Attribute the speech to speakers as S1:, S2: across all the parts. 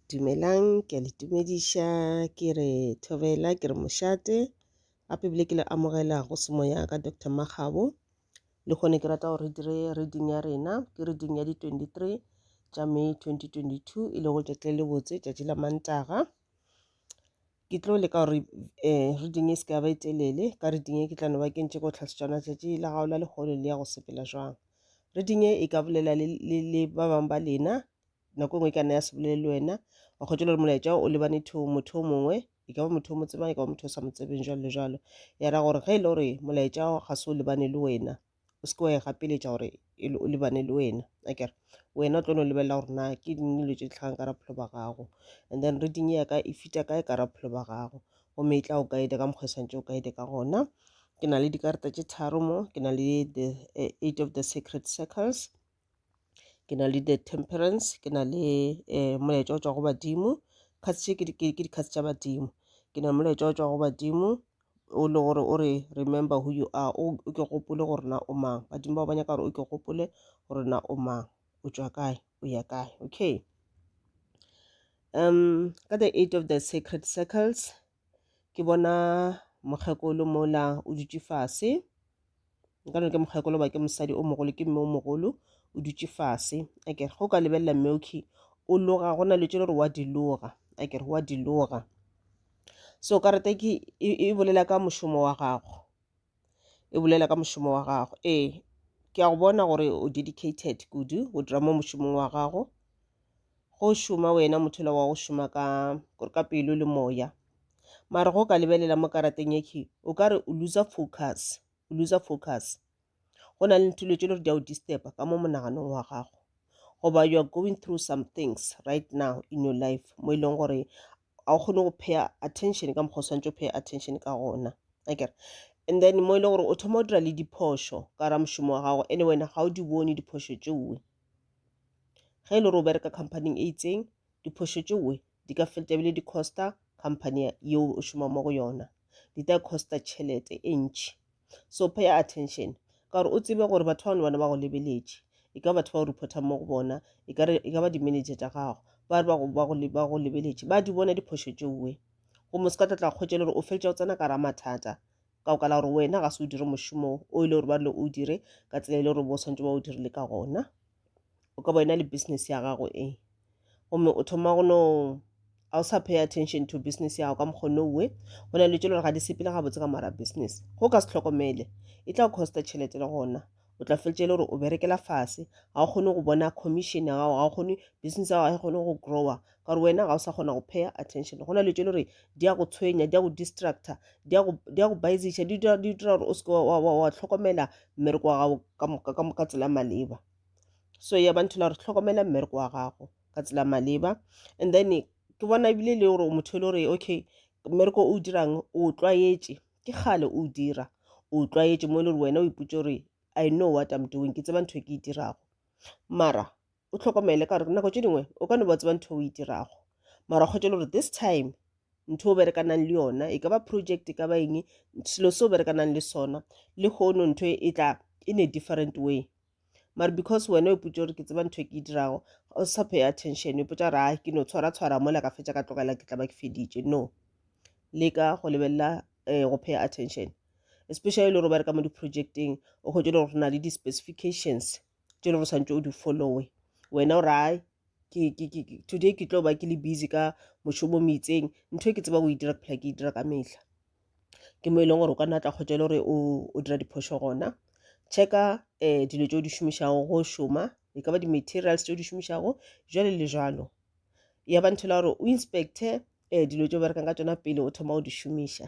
S1: Dumelang, ke a le tumediša ke re thobela ke re mošate gape ebile ke le amogela go semo ya ka Doctor Makgabo. Le kgone ke rata gore re dire reading ya rena ke reading ya di twenty three tša May twenty twenty two e lego tšatši le botse tšatši la Mantaga. ke tlo leka gore um reading e se ka ba e telele ka reading e ke tla no ba ke ntše ko tlhase tšona tšatši la gago la lehono le ya go sepela jwang reading e e ka bolela le, le, le ba bangwe ba lena nako e nngwe e ka nna ya se bolele le wena wa kgotsa le gore molaetša o lebane to motho o mongwe e ka ba motho o mo tsebang e ka ba motho o sa mo tsebeng jwalo le jwalo ya ra gore ge e le gore molaetša ga se o lebane le wena o se ke wa e gapeletša gore e lebane le wena a kere wena o tlo no lebelela gore na ke ding dilo tše di tlhagang ka bophelo ba gago and then reading ya ka e fita kae ka bophelo ba gago gomme e tla o guide ka mokgwa e swantse o guide ka gona ke na le dikarata tše tharo mo ke na le the eh, eight of the sacred circles ke na le the temperance ke na le um molaetša o tšwa go badimo kgats tše ke dikgats tša badimo ke na le molaetša o tšwa go badimo o le gore o re remember who you are o ke gopole gore na o mang badimo bao ba nyaka gore o ke gopole gore na o mang o tšwa kae o ya kae okay um ka the eight of the sacred circles Ke bona mokgekolo mola o dutše fase. Nka re ke mokgekolo goba ke mosadi o mogolo, ke mme o mogolo o dutše fase. A ke re ge o ka lebelela mme okay o loga go na le tše le gore wa di loga. A ke re wa di loga. So karata ke e bolela ka mošomo wa gago. e bolela ka mošomo wa gago ee ke a go bona gore o dedicated kudu go dira mo mošomong wa gago go šoma wena motho la wa go šoma ka gore ka pelo le moya mara go ka lebelela mo karateng yekhe o ka re o losa focus o losa focus go na le nthulo tše le gore di a o disturba ka mo monaganong wa gago goba you are going through some things right now in your life mo e leng gore ga o kgone go paya attention ka mokgwa o swantse o paya attention ka gona akere and then mo e le gore o thoma o dira le diphošo ka ra mošomo wa gago ene wena ga o di bone diphošo tšeoe ge e le gore o bereka companyng e itseng diphošo tšeoe di ka felta ebile di costa company yeo o šoma mo go yona di tla costa tšhelete e ntšhi so pay attention ka gore o tsebe gore batho bano bana ba go lebeletše e ka batho ba o reportang mo go bona e ka e ba di-manager tša gago ba re ba go lebeletše ba di bona diphošo tšeoe gomme se ka tla tla kgwetša le gore o feletša o tsena ka ra mathata ka go kala gore wena ga se o dire mošomo o ile gore ba rile o dire ka tsela e le gore bo swantse ba o dirile ka gona o ka ba yona le business ya gago e gomme o thoma go no ga o sa pay attention to business ya gago ka mokgone owe go na le tšelo gore ga di sepele gabotse ka mara business go ka se tlhokomele e tla costa tšhelete le gona o tla feletse e le gore o berekela fase ga o kgone go bona commission ya gago ga o kgone business ya gago ga e kgone go grower ka gore wena ga o sa kgona go paya attention go na le tse le gore di ya go tshwenya di ya go distracta di ya go baeziša di dira gore o seke wa tlhokomela mmereko wa gago ka tsela maleba so ya bantho la gore tlhokomela mmereko wa gago ka tsela maleba and then ke bona ebile e le gore motho e le gore okay mmereko o dirang o tlwaetše ke kgale o dira o tlwaetše mo e le gore wena o ipotse gore i know what i'm doing ke tseba ntho e ke e dirago mara o tlhokomele ka gore nako tše dingwe o ka no ba tseba ntho o e dirago mara kgotse le gore this time ntho o berekanang le yona e ka ba project e ka ba eng selo se o berekanang le sona le kgono ntho e, e tla in a different way mara because wena o ipotse gore ke tseba ntho e ke e dirago o sa pay attention o ipotsa gore a ke no tshwara tshwara mola ka fetsa ka tlogela ke tla ba ke feditše no leka go lebelela um go pay attention especially le gore o bereka mo di-projecteng o kgotse le gore go na le di-specifications tše le go santse o di followe wena o rae today ke tlo ba ke le busy ka mošomo mo itseng ntho e ke tseba go e dira ke phela ke e dira ka mehla ke mo e leng gore o ka nna tla kgotsa e le gore o dira diphošo gona checka um dilo tse o di šomišago go šoma e ka ba di-materials tse o di šomišago jale le jalo ya ba ntho la gore o inspecte um dilo tse o berekang ka tsona pele o thoma go di šomiša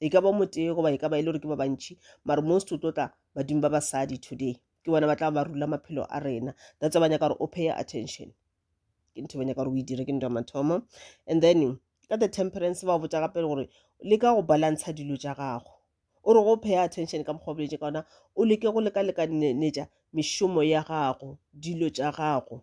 S1: e ka ba motee goba e ka ba e le gore ke ba bantšhi mare most o tlo tla badimo ba basadi today ke bona ba tla ba rula maphelo a rena that's ba nyaka gore o pay attention ke ntho ba nyaka gore o e dire ke ntwa mathomo and then ka the temperance ba botsa gape gore le ka go balantsha dilo tša gago o re go pay attention ka mokgwa boletse ka ona o leke go leka lekanetša mešomo ya gago dilo tša gago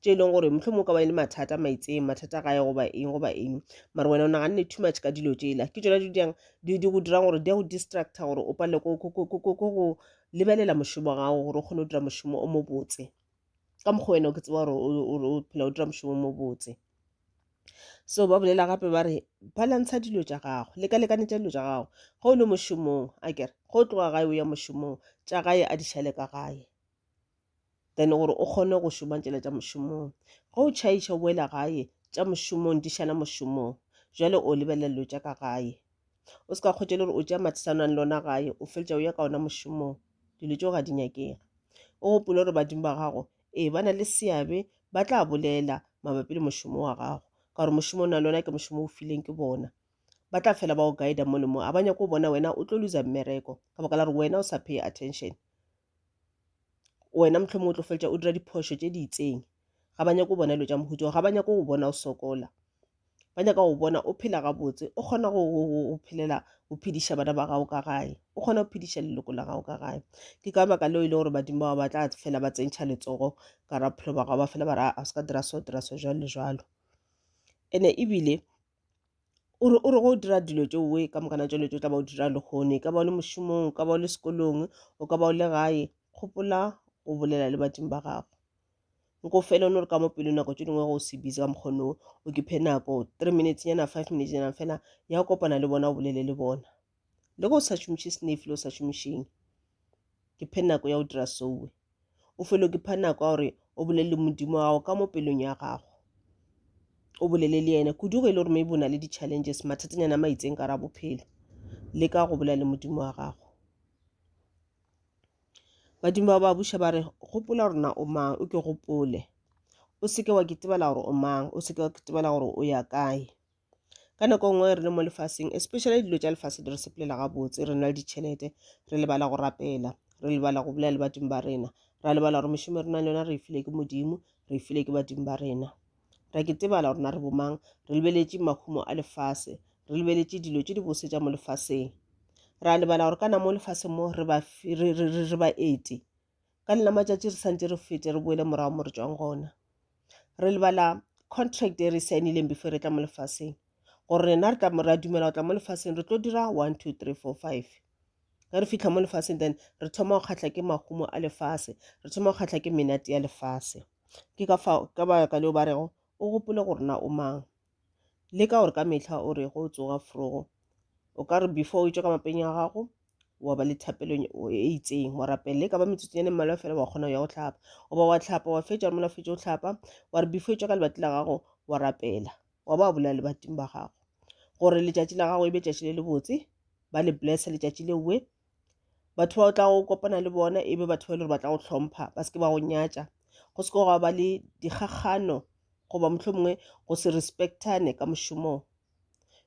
S1: tše e leng gore mohlomong o ka ba e le mathata maitseng mathata gae goba eng goba eng mara wena o naganne too much ka dilo tšela ke tsona dijang di go dirang gore di ya go distracta gore o palele ko go lebelela mošomo gago gore o kgone go dira mošomo o mobotse ka mokgwa wena o ke tseba gore o phela o dira mošomo o mobotse so ba bolela gape ba re balantsha dilo tša gago lekalekane tša dilo tša gago ge o le mošomong a kere ge o tloga gae o ya mošomong tša gae a di šale ka gae then gore o kgone go šoma tšela tša mošomong ge o tšhaiša o boela gae tša mošomong di šala mošomong jale o lebelela dilo tša ka gae o se ka kgwetša le gore o tša mathisanang le ona gae o feletša o ya ka ona mošomong dilo tšeo ga di nyakege o gopole gore badimo ba gago ee ba na le seabe ba tla bolela mabapi le mošomo wa gago ka gore mošomo o na le ona ke mošomo o fileng ke bona ba tla fela ba o guida mo le mo a ba nyako bona wena o tlo loser mmereko ka baka la gore wena o sa pay attention wena mohlomongwe o tlo feletša o dira diphošo tše di itseng ga ba nyako bona dilo tša mohuto ga ba nyako go bona o sokola ba nyaka go bona o phela gabotse o kgona go phelela go phediša bana ba gago ka gae o kgona go phediša leloko la gago ka gae ke ka baka leo e le gore badimo bao ba tla fela ba tsentšha letsogo ka ra bophelo ba gago ba fela ba ra a se ka dira so dira so jalo le jalo ene ebile o re o re go dira dilo tše oe ka mokana tšelo tše o tla ba o dira lehono e ka ba o le mošomong o ka ba o le sekolong o ka ba o le gae gopola go bolela le badimo ba gago nko fela o no re ka mo pelo nako tše dingwe go se busy ka mokgono o ke phe nako three minutes nyana five minutes nyana fela ya kopana le bona o bolele le bona le go sa šomiše senefi le o sa šomišeng ke phe nako ya go dira sowe o felo ke pha nako ya gore o bolelele modimo wa gago ka mo pelong ya gago o bolele le yena kudu go e le gore maybe o na le di-challenges mathatanyana ma itseng ka ra bophelo le ka go bolela le modimo wa gago badimo ba ba buša ba re gopola gore na o mang o ke gopole o seke wa ketebela gore o mang o seke wa ketebela gore o ya kae ka nako nngwe re le mo lefaseng especially dilo tša lefase di re sepelela gabotse re na le ditšhelete re lebala go rapela re lebala go bolela le badimo ba rena ra lebala gore mešomo re nang le yona re e file ke modimo re e file ke badimo ba rena ra ke tebala gore na re bomang re lebeletše mahumo a lefase re lebeletše dilo tše di bose tša mo lefaseng ra lebala gore kana mo lefaseng mo re ba ete ka nna matšatši re santse re fete re boele morago mo re tswang gona re lebala contract e re saenileng before re tla mo lefaseng gore rena re tla ra dumela go tla mo lefaseng re tlo dira one two three four five ge re fitlha mo lefaseng then re thoma go kgatlha ke mahumo a lefase re thoma go kgatlha ke menate ya lefase ke ka fa ka baka leo ba rego o gopole gore na o mang le ka gore ka mehla o re go tsoga frogo o ka re before o tšwa ka mapeng a gago wa ba le thapelo e itseng wa rapele ka ba metsotsonyane mmalwa fela wa kgona go ya go tlhapa o ba wa tlhapa wa fetša re mola fetša o tlhapa wa re before e tšwa ka lebati la gago wa rapela wa ba bolela lebating ba gago gore letšatši la gago e be tšatši le lebotse ba le blessa letšatši leowe batho ba o tla go kopana le bona e be batho ba e le gore ba tla go hlompha ba se ke ba go nyatša go se ke gwa ba le dikgakgano goba mohlho mongwe go se respectane ka mošomong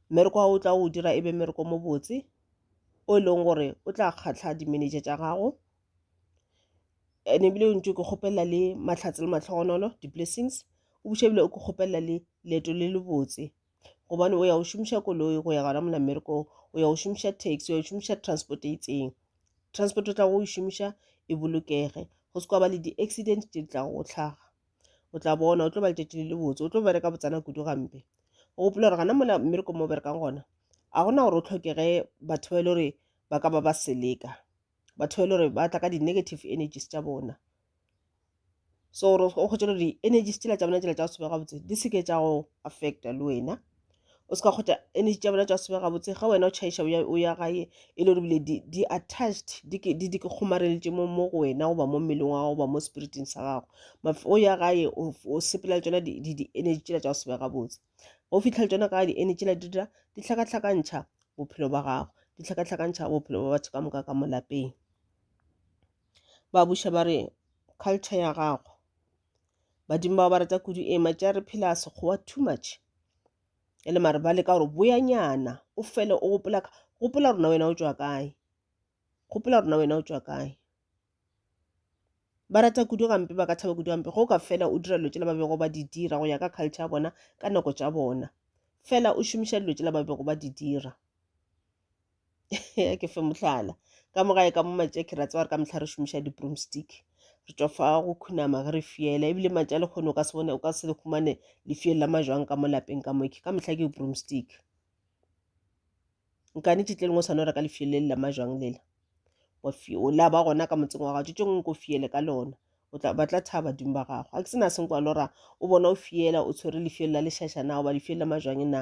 S1: mmereko wa o tla o dira e be mmereko mo botse o e leng gore o tla kgatlha di-manager tša gago and ebile o ntse o ke kgopelela le mahlatse le matlhogonolo di-blessings o buše ebile o ke kgopelela le leeto le le botse gobane o ya go šomiša koloi go ya gona mona mmerekong o ya go šomiša taxi o ya go šomiša transport e itseng transport o tla go e šomiša e bolokege go se kwa ba le di-accident tse di tla go tlhaga o tla bona o tlo ba letšatši le le botse o tlo bereka botsana kudu gampe o gopola gore gana mola mmerekong mo berekang gona a gona gore o tlhokege batho ba e le gore ba ka ba ba seleka batho ba e le gore ba tla ka di-negative energies tša bona so gore o kgotse gore di-energies tsela tša bona tsela tša go sebega botse di seke tša go affecta le wena o se ka kgotsa energy tša bona tša go sebega botse ga wena o tšhaiša o ya gae e le gore bile di-attached di ke kgomareletše mo go wena goba mo mmeleng wa gago goba mo spiriting sa gago o ya gae o sepela le tsona di-energy tsela tša go sebega botse go fitlha le tsona ka di-energy la di dira di hlakahlakantšha bophelo ba gago di hlakahlakantšha bophelo ba batho ka moka ka mo lapeng ba buša ba re culture ya gago badimo bao ba rata kudu e matša re phela sekgowa too much e le mare ba leka gore boyanyana o fele o gopola gopola rona wena o tšwa kae gopola rona wena o tšwa kae ba rata kudu gampe ba ka thaba kudu gampe go ka fela o dira dilo tsela ba bego ba di dira go ya ka culture ya bona ka nako tša bona fela o šomiša dilo tsela ba bego ba di dira ke fe mohlala ka mo gae ka mo matšeki ra tseba re ka mehla re šomiša di-broomstick re tšwa fa go khunama ge re fiela ebile matša le kgone o ka se bone o ka se le humane lefiele la majwang ka mo lapeng ka moke ka mehla ke broomstick nkane tše tleleng o swane reka lefiele le la majwang lela o la ba gona ka motseng wa gago tše tšengwe ko fiele ka lona o tla batla thaba badimo ba gago a ke sena senkwa lora o bona o fiela o tshwere lefiele la lešašana goba lefiele la majwang na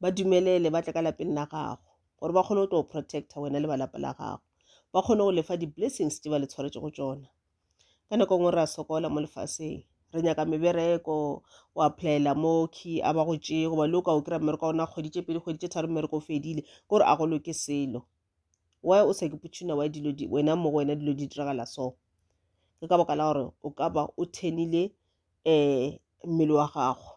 S1: ba dumelele ba tle ka lapeng la gago gore ba kgone go tlo protecta wena le ba lapa la gago ba kgone go lefa di-blessings tse ba le tshwaretse go tsona ka nako e nngwe re a sokola mo lefaseng re nyaka mebereko o applyela mo key a ba go tšee goba le o ka o kry-a mmereko wa ona kgwedi tše pedi kgwedi tše tharo mmereko o fedile ke gore a go loke selo why o sa ke putšhuna wa dilo wena mo go wena dilo di diragala so ke ka baka la gore o ka ba o thenile um mmele wa gago